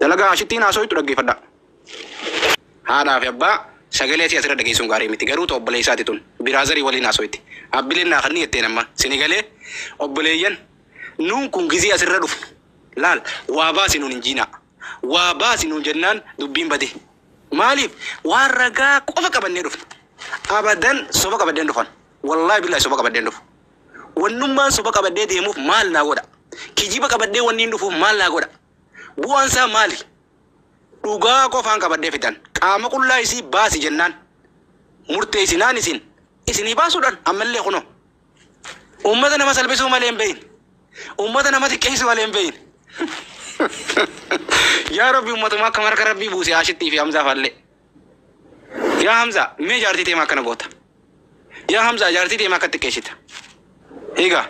Dalagaa ashittiin haasoytu dhaggeeffadhaa. Haadhaa fi abbaa sagalee isii asirra dhageessuun gaarii miti garuu ta obboleessaati tun biraazarii waliin haasoyti abbileen naa kanni jetteen amma sini galee obboleeyyan nuun kun gizee asirra dhufnu laal waa baasi nuun hin jiinaa waa baasi nuun jennaan dubbiin badee maaliif waan ragaa qofa qabannee dhufna abadan soba qabaddeen dhufan wallaahi billaahi soba qabaddeen dhufu wannummaan soba qabaddee deemuuf maal naa godha kijiba qabaddee wanniin dhufuuf maal naa godha Bu'aan isaa maali? Dhugaa qofaan qabadhee fidan. Qaama qullaa isii baasi jennaan, murteessinaan isin, isinii baasuudhaan ammallee kunoo, uummata nama salphisuu malee hin beekne, uummata nama xiqqeessuu malee hin beekne. Yaa Rabbi uummatuma akkam harka Rabbii buuse Aashittii fi Hamzaa faallee. Yaa Hamzaa, mee jaartii teema akkana goota. Yaa Hamzaa, jaartii teema akka xiqqeessita. Egaa,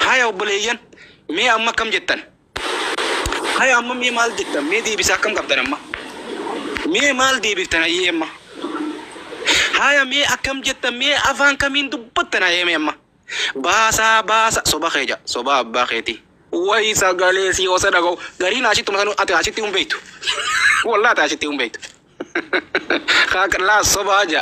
haya obboleeyyan, mee amma akkam jettan? Hay amma mee maal jettan mee deebisaa akkam qabdan amma mee maal deebiftan hayyee amma haya mee akkam jettan mee afaan kamiin dubbattan hayyee mee amma baasaa baasa soba kee ja soba abbaa keetii wayi sagalee si osa dhaga'u gariin ashitti masanu ati ashitti hin beektu wallaa ati ashitti hin beektu kaa laa sobaa ja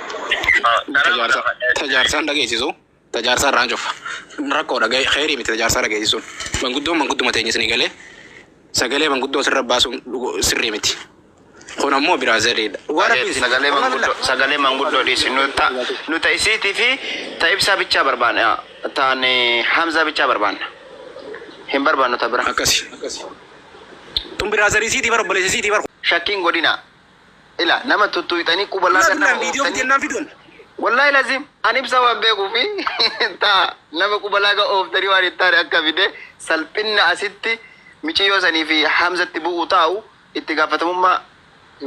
ta jaarsaan dhageessisu ta jaarsaa irraan cufa rakkoodha keerii miti ta jaarsaa dhageessisuun manguddoon mangudduma teenya isinii galee sagalee manguddoo sirra baasuun sirrii miti kun ammoo biraa zariidha sagalee manguddoo sagalee manguddoo dhiisi nuta nuta isiitii fi ta ibsaa bichaa barbaanna taan hamzaa bichaa barbaanna hin barbaannu ta bira akkasi tun biraa zarii siitii bar obboleessa siitii bar shakkiin godhinaa Ila nama tuttuyxanii quba Wallah laga dullaan nama viidiyoo ooftanii. bitennaan fidoon. Wallahi lazim an ibsa waan beekuu fi taa nama quba laga ooftanii waan hin taane akka fide salphinna asitti miciyyoo sanii fi hamzatti bu'u taa'u itti gaafatamummaa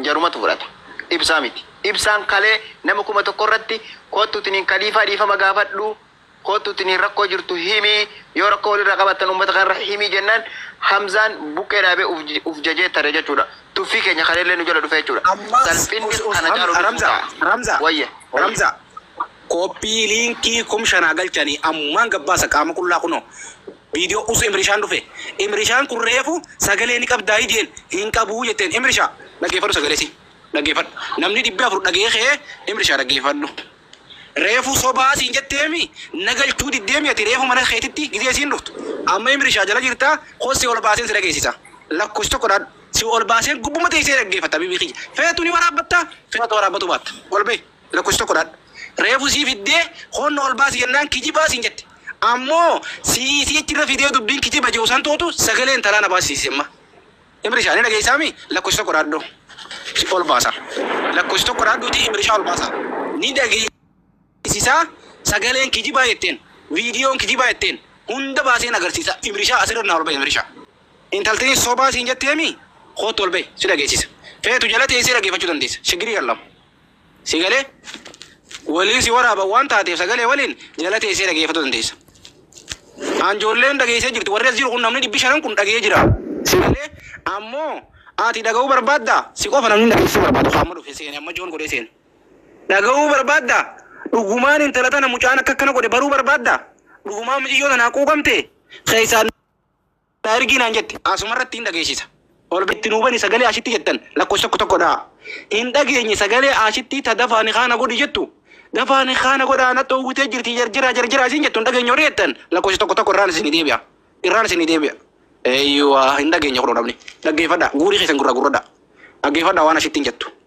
jarumatu fudhata. Ibsaa miti. Ibsaan kalee nama kuma tokko irratti koottu tiniin kaliifaa dhiifama gaafadhu Koottu tiniin rakkoo jirtu himii yoo rakkoo walirraa qabaattan ummata kanarra himii jennaan Hamzaan buqqee dhaabee uf uf jajee tare jechuudha. Tuffii keenya kaleellee nu jala dhufe jechuudha. Ammas Salphinni us us kana caalu Hamza nutti Ramza ta'a. Ramza Wayye wayye. Ramza Koppii liinkii kum shanaa galchanii ammumaan gabbaasa qaama qullaa kunoo Viidiyoo us Imrishaan dhufe Imrishaan kun reefu sagalee ni qabdaa hidiyeen hin qabuu jetteen Imrishaa dhaggeeffadhu sagalee isii dhaggeeffadhu namni dhibbi afur dhagee kee Imrishaa dhaggeeffadhu Reefu sobaa siin jetteemi na galchuu diddeemi ati reefu mana keetitti gizee isiin dhuftu amma imrishaa jala jirtaa koo si ol baaseen si dhageessisa lakkofsi tokko dhaadhu si ol baaseen gubbuma teessee dhaggeeffatta habiibii kiyya feetu ni waraabbatta feetu waraabbatuu baatta ol bahi lakkofsi tokko dhaadhu reefu sii fiddee koon na ol baasi jennaan kijibaa siin jette ammoo sii isii achirra fidee dubbiin kijiba je'u san tootu sagalee intalaa na baasisiise amma Imrisha ni dhageessaa mi? Lakkoofsa tokko dhaadhu. Ol baasa. Lakkoofsa tokko dhaadhuuti Imrisha ol baasa. Ni dhageessisaa sagaleen kijibaa jetteen. Viidiyoon kijibaa jetteen. Hunda baaseen agarsiisa. Imrisha asirra naa ol bahi Imrisha. Intaltiin sobaa siin jettee mi? Koottu ol bahi si dhageessisa. Feetu jala teessee dhageeffachuu dandeessa. Shiggirii kan lama. Si galee? Waliin si waraaban waan taateef sagalee waliin jala teessee dhageeffatu dandeessa. An joolleen dhageessee jirti warri as jiru kun namni dhibbi shanan kun dhagee jira. Si galee? Ammoo ati dhaga'uu barbaadda? Si qofa namni dhageessuu barbaadu ka amma dhufe seene amma joon godhee seene. Dhaga'uu barbaadda? Dhugumaan intala tana mucaan akka akkana godhe baruu barbaadda? Dhugumaan miciyyoo tanaa quuqamte? Keessaan. Na ergii naan jette asumarratti hin dhageessisa. Ol itti nuu bani sagalee ashitti jettan lakkoofsa tokko tokko dhaha. Hin dhageenye sagalee ashittii ta dafaa nikhaa na godhi jettu. Dafaa nikhaa na godhaa na dhoowwitee jirti jarjaraa jarjaraa isiin jettu hin dhageenye warri jettan lakkoofsa tokko tokko irraan isinii deebi'a. Irraan isinii deebi'a. Eeyyuwa hin dhageenye kunoo namni. Dhaggeeffadhaa guurii keessan gurraa gurradhaa. Dhaggeeffadhaa waan ashittiin jettu.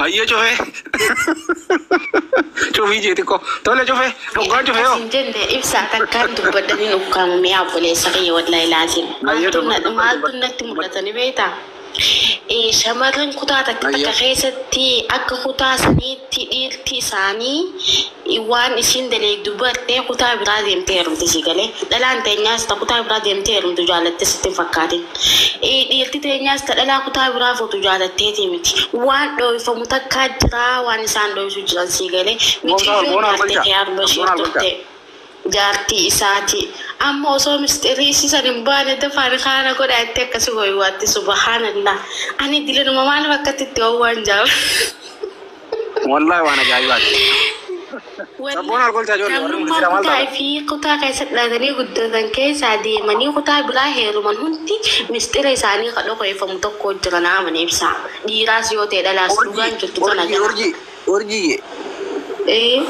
Hayyee cufee. Cufii jee xiqqoo. Tole cufee. Dhuggaan cufee yoo. Asin jenne ibsaa takkaan dubbadhanii nuuf kaamamee obboleessa kiyya wallahi laaziim. Hayyee Maaltu na- dubbadhu. maaltu natti mul'atanii beektaa? Eh, Shamarran kutaa takka takka Hayyee. keessatti akka kutaa saniitti dhiirti isaanii waan isiin daleeydu bartee kutaa biraa deemtee heerumte sii galee dhalaan teenyaas ta kutaa biraa deemtee heerumtu jaalatte sitti hin fakkaatin dhiirti teenyaas ta dhalaa kutaa biraa fuutu jaalatteetii miti waan dhooyfamu takkaa jiraa waan isaan dhooysu jiran sii galee miciyyoon jaarte kiyaar bashiir turte jaartii isaati amma osoo misxirri isii san hin baane dafaa nikaa na godhaa itti akkasi waywaatti subahaanallah ani dilinuma maaliif akkatti itti wawwaan jaaba Wallahi waan ajaa'ibaati. Sabboon alkolchaa ijoollee warri Namummaa murtiidha maal kutaa taatan? fi kutaa keessatti dhalatanii guddatan keessaa deemanii kutaa biraa heeruman hundi misxira isaanii ka dhokeeffamu tokko jira na amani ibsa. Dhiiraas yoo ta'e dhalaas dhugaan jirtu tana Urjii, kana. urjii, urjiiyye. Ee,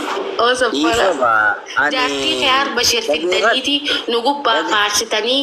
oo sobbala. Dhiifama, ani- Jaartii kee harba ishee fiddaniiti nu gubbaa Dhageeffadhu. faarsitanii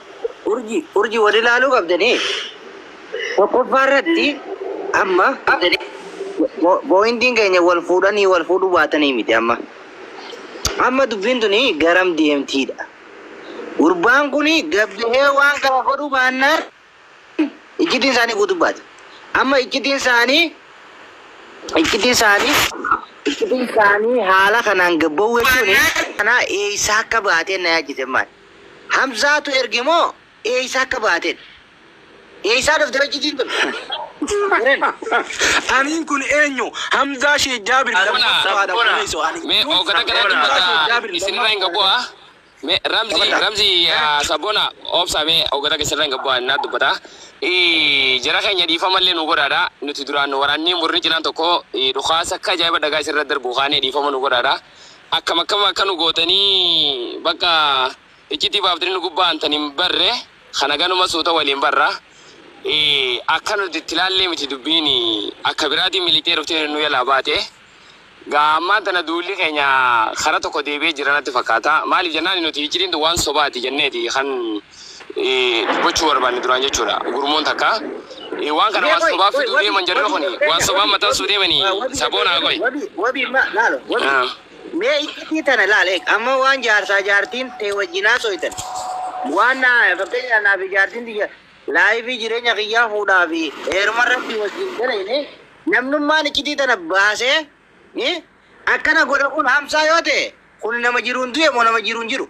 Urjii urjii wal ilaaluu qabdanii tokkoffaa irratti amma pooyintiin keenya wal fuudhanii wal fuudhuu baatanii miti amma amma dubbiin tuni garam deemtiidha gurbaan kun gabbihee waan kana godhuu baannaan iccitiin isaanii guutuu baate amma iccitiin isaanii iccitiin isaanii iccitiin isaanii haala kanaan gabba'uu jechuun kanaa eessaa akka baatee na yaachise maal Hamzaatu erge moo eeysaa akka baateedha? Eeysaa dhufte hojjitiin tun? Eren. Aniin kun eenyu? Hamzaa Sheikh Jaabir Asumaa lammaffaadha Rabbona obboleesso ani. mee Duun ogata kana Hamzaa dubbata Sheikh Jaabir isinirra hin lammaffaa gabbu'a obboleesso. mee ramzi Taphata. ramzi yaa sabbona obsa mee ogata kee sirra hin gabbu'a innaa dubbata ii jara keenya dhiifamallee nuu godhaadha nuti duraan waraannii murni cinaan tokko ii dhukaasa akka ajaa'iba dhagaa isinirra darbuu kaanee dhiifama nuu godhaadha. Akkam akkam akka nu gootani bakka iccitii baaftani nu gubbaa antan hin barre kana ganuma suuta waliin barra akka nuti itti laallee miti dubbiin akka biraatiin miliqxee dhuftee nu yalaa baate gaa ammaan tana duulli keenya kara tokko deebi'ee jira natti fakkaata maaliif jennaani nuti iccitiin tun waan sobaati jenneeti kan gochuu barbaanne duraan jechuudha gurmuun takka waan kana waan sobaa fiduu deeman jarri kun waan sobaa maxxansuu deemanii saboonaa qoy. Wabii wabii ma laalo wabii. Ah. Mee iccitii tana laal eeg amma waan jaarsaa jaartiin tee wajjin haasoytan waan na fakkeenyaaf naa fi jaartiin tiyya laayifii jireenya kiyyaa fuudhaa fi heeruma rabbii wajjin dalayne namnummaan iccitii tana baasee eh, Akkana godha kun hamsaa yoo ta'e kun nama jiruun du'e moo nama jiruun jiru?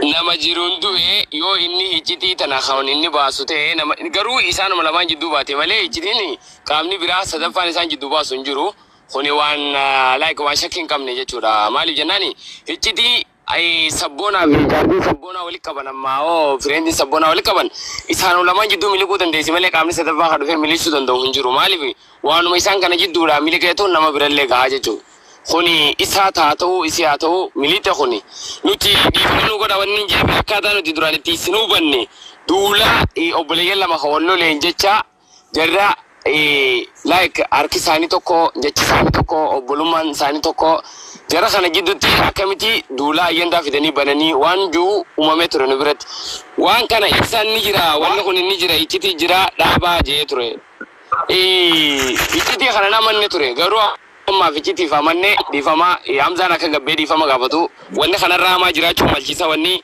Nama jiruun du'e yoo inni hiccitii tana kan inni baasu ta'e nama garuu isaanuma lamaan jidduu baate malee hiccitiin qaamni biraa sadaffaan isaan jidduu baasu hin jiru. Kuni waan like waan shakkii hin qabne jechuudha. Maaliif jennaani hiccitii Ayii sabboonaa fi jaartiin sabboonaa wali qaban ammaa hoo fireendiin sabboonaa wali qaban isaanuma lamaan jidduu miliquu dandeessi malee qaamni sadaffaa ka dhufee miliisuu danda'u hin jiru maaliif waanuma isaan kana jidduudhaa miliqeetu nama birallee gahaa jechuu kuni isaat haa ta'uu isii haa ta'uu miliixe kuni nuti dhiifama nu godha wanni hin jeefi akkaataa nuti duraan itti isin hubanne duula obboleeyyan lama ka wal loleen jechaa Jarra like harki isaanii tokko jechi isaanii tokko obbolummaan isaanii tokko jara kana jidduutti akkamiti duulaa ayyandaa fidanii bananii waan juu umamee ture nu biratti waan kana ibsaan ni jira wanni kun ni jira iccitii jira dhaabaa jee ture iccitii kana namanne ture garuu ammaaf iccitiif amanne dhiifama hamzaan akka gabbee dhiifama gaafatu wanni kanarraa hamaa jiraachuu malchiisa wanni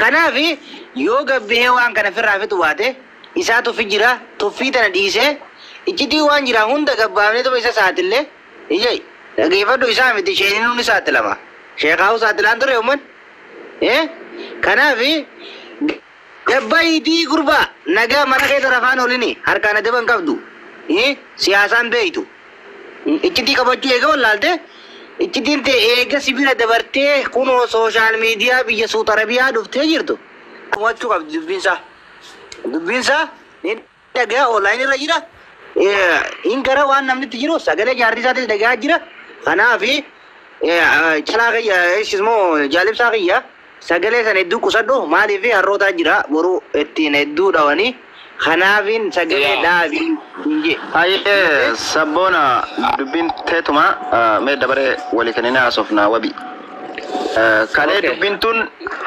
Kanaaf yoo gabbihee waan kana firraa fixu baate isaa tuffi jira tuffii tana dhiisee iccitii waan jiraa hunda gabbaafneetuma isa saaxille ijai dhageefadhu isaa miti sheeninuu ni saaxilama sheekaahu saaxilaan ture umman ee kanaaf Gad bahi D gurbaa nagaa mana keessa rafaan olini harkaan adaba hin qabdu I siyaasaa hin beektu iccitii qabachuu eega wallaalte iccitiin tee eega si bira dabartee kunoo social media biyya suut arabiyaa dhuftee jirtu tumachuu qabdi dubbiin isaa dubbiin isaa ni dhagayaa online irra jira Eh, in gara waan namni itti jiru sagalee jaartii isaatis dhagayaa jira kanaaf eh, eh, calaa kiyya isis moo jaalibsaa kiyya sagalee san hedduu qusadhu maaliif harrootaa jira boruu ittiin hedduu dhawanii kanaafin sagalee Yaa. dhaabii hin jee Hayyee sabboona dubbiin teetuma ah, mee dabaree walii kennina haasofna wabi. Eh, Kalee Okay. dubbiin tun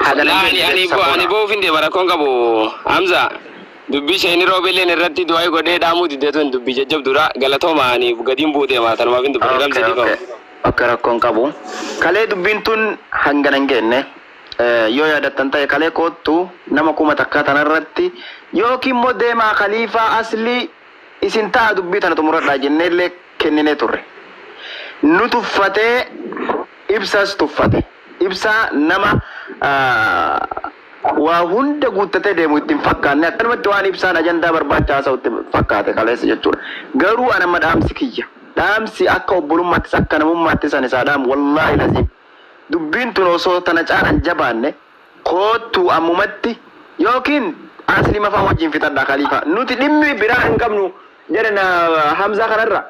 hagana Laa, ani- ani bo- ani bo'uuf hin deema rakkoon qabu hamza Dubbi isheen Roobelleen irratti du'aa'ii godhee dhaamuu didde tun dubbi jajjabduudha. Galatoomaa ani gadiin bu'uu deema tanumaaf hin dubbadhe Ramzi dhiifama. Ok ok ok rakko hin qabu. Kalee dubbiin tun hangana hin geenne. Yoo yaadattan ta'e kalee koottu nama kuma takkaa tana irratti yookiin immoo deemaa Kaliifaa Aslii isin taa'a dubbii tana xumuradhaa jennee illee kenninee turre. Nu tuffatee Ibsas tuffate. Ibsaa nama waa hunda guuttatee deemu itti hin fakkaanne akkanumatti waan ibsaan ajandaa barbaacha haasa'u itti fakkaate kaleessa jechuudha. Garuu an amma dhaamsi kiyya dhaamsi akka obbolummaattis akka namummaattis an isaa dhaamu wallaahi laziim dubbiin tun osoo tana caala hin jabaanne koottuu ammumatti ykn Aslima faa wajjiin fixadhaa Khalifa nuti dhimmi biraa hin qabnu jedhe na Hamzaa kanarra.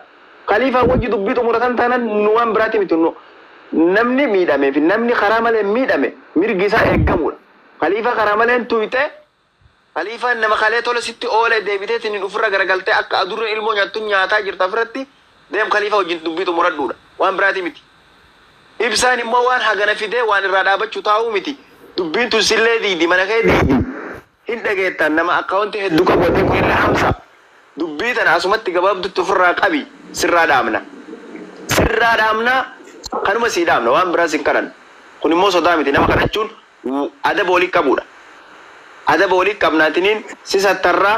Kaliifaa wajji dubbii xumuratan taanan nu waan biraati miti nu namni miidhamee fi namni karaa maleen miidhame mirgi isaa eeggamuudha. Kaliifaa karaa maleen tuyxe Kaliifaan nama kalee tola sitti oole deebiteetiniin ufirra garagaltee akka adurreen ilmoo nyaattu nyaataa jirta ofirratti deem kaliifaa wajjin dubbii xumuradhuudha. Waan biraati miti. Ibsaan immoo waan hagana fidee waan irraa dhaabachu taa'uu miti. Dubbiin tun sillee diidi mana kee diidi. Hin dhageettaan nama account heddu qabu ati Quella Hamza dubbii tana asumatti gabaabdutti ofirraa qabi sirraa dhaabna sirraa dhaabna kanuma sii dhaabna waan biraa sin kadhannu kun immoo sodaa miti nama kadhachuun adaba wali qabuudha adaba wali qabna atiniin si sattarraa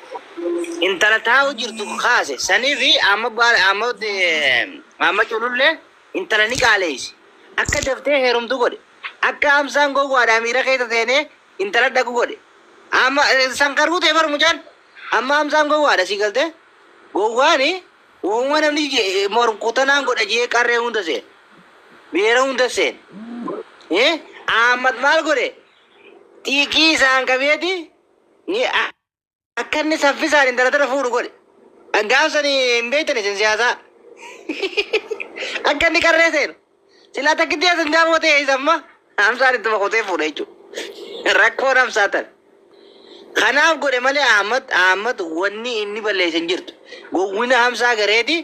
intala taa'u jirtu kaase sanifi amma baal amma amma cululle intala ni qaaleeyse akka daftee heerumtu godhe akka amsaan gowwaadhaa miira keessa seenee intala dhaqu godhe amma san karuu ta'e bar mucaan amma amsaan gowwaadha si galte gowwaani uuma namni morkutanaan godha jee qarree hunda seen beera hunda seen eh aammat maal godhe xiiqii isaan qabeeti ni Akka inni saffisaan intala tana fuudhu godhe. Gaaf sani hin beektan isin siyaasaa. Akka inni qarree seenu. Silaa takkitti as hin daawwate eessa amma? Hamsaan ittuma kutee fuudha jechuudha. Rakkoon hamsaa tana. Kanaaf godhe malee Ahmad Ahmad wanni inni balleesse hin jirtu. Gowwina hamsaa gareeti.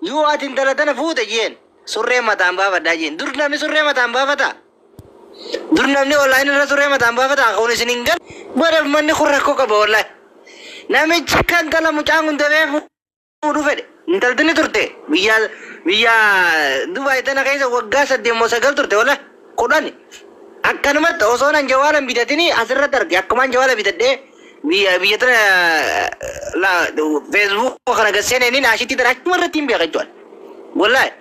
Yoo ati intala tana fuute jeen surree mataan baafadhaa jeen. Dur namni surree mataan baafataa? Dur namni online irra turee mataan baafata akka kun isin hin gal godhe manni kun rakkoo qaba wallahi. Namichi akka intala mucaan kun demee fuudhu fedhe. Intalti ni turte biyya biyya Dubai tana keessa waggaa saddeet moo sagal turte wallahi kudhani. Akkanumatti osoon an jawaala hin bitatini asirratti arge akkumaan jawaala bitadhee Biyya biyya tana la Facebook kana gad seenanii naashitii tana achuma irratti hin beeka jechuudha. Wallahi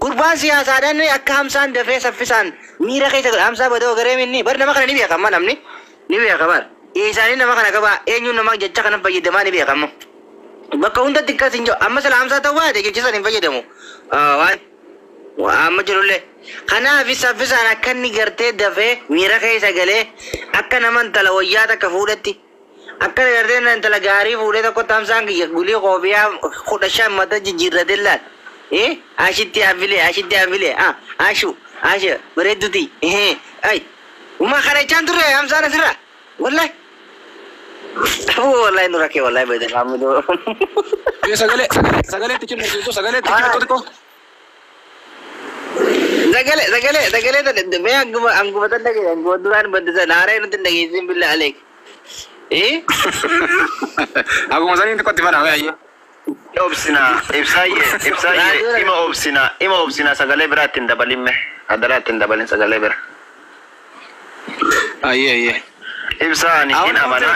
gurbaan siyaasaadhaan ni akka hamsaan dafee saffisaan miira keessa godha. Hamsaa badoo garee minni bar nama kana ni beeka amma namni ni beeka bar. Eessaanii nama kana qabaa eenyuun nama jecha kana fayyadamaa ni beeka amma. Bakka hundatti akkas hin jiru. Amma sila hamsaa ta'uu baate jecha sana hin fayyadamu. Ah, waan Amma jirullee. Kanaafi saffisaan akka inni gartee dafee miira keessa galee akka nama intala wayyaa takka fuudhetti akka gartee na intala gaarii fuudhee tokkotti hamsaan kiyya gulii koofiyaa kudha shan mata jijjiirratee laal. Eh, ashitti afilee ashitti afilee ah ashu asha bareeddutii eh ay. Uma kadhachaan turre hamsaan asirraa. Wallahi. Aboo wallahi nu rakkee wallahi bayyee maamiloo. Ee sagalee sagalee sagalee itti cimma jechuun sagalee itti cimma xixiqqoo. Sagalee sagalee sagalee tana mee anguma anguma tan dhageesse anguma duraan badde sana haaree nutti hin dhageessiin billaa aleek. Ee Akkuma saniin xiqqootti banaa mee ayyee. Ni obsina ibsaayyee ibsaayyee ima obsina ima obsina sagalee biraa itti hin dabalin mee adaraa itti hin dabalin sagalee bira. Ayyee ayyee. Ibsaa ani hin amana.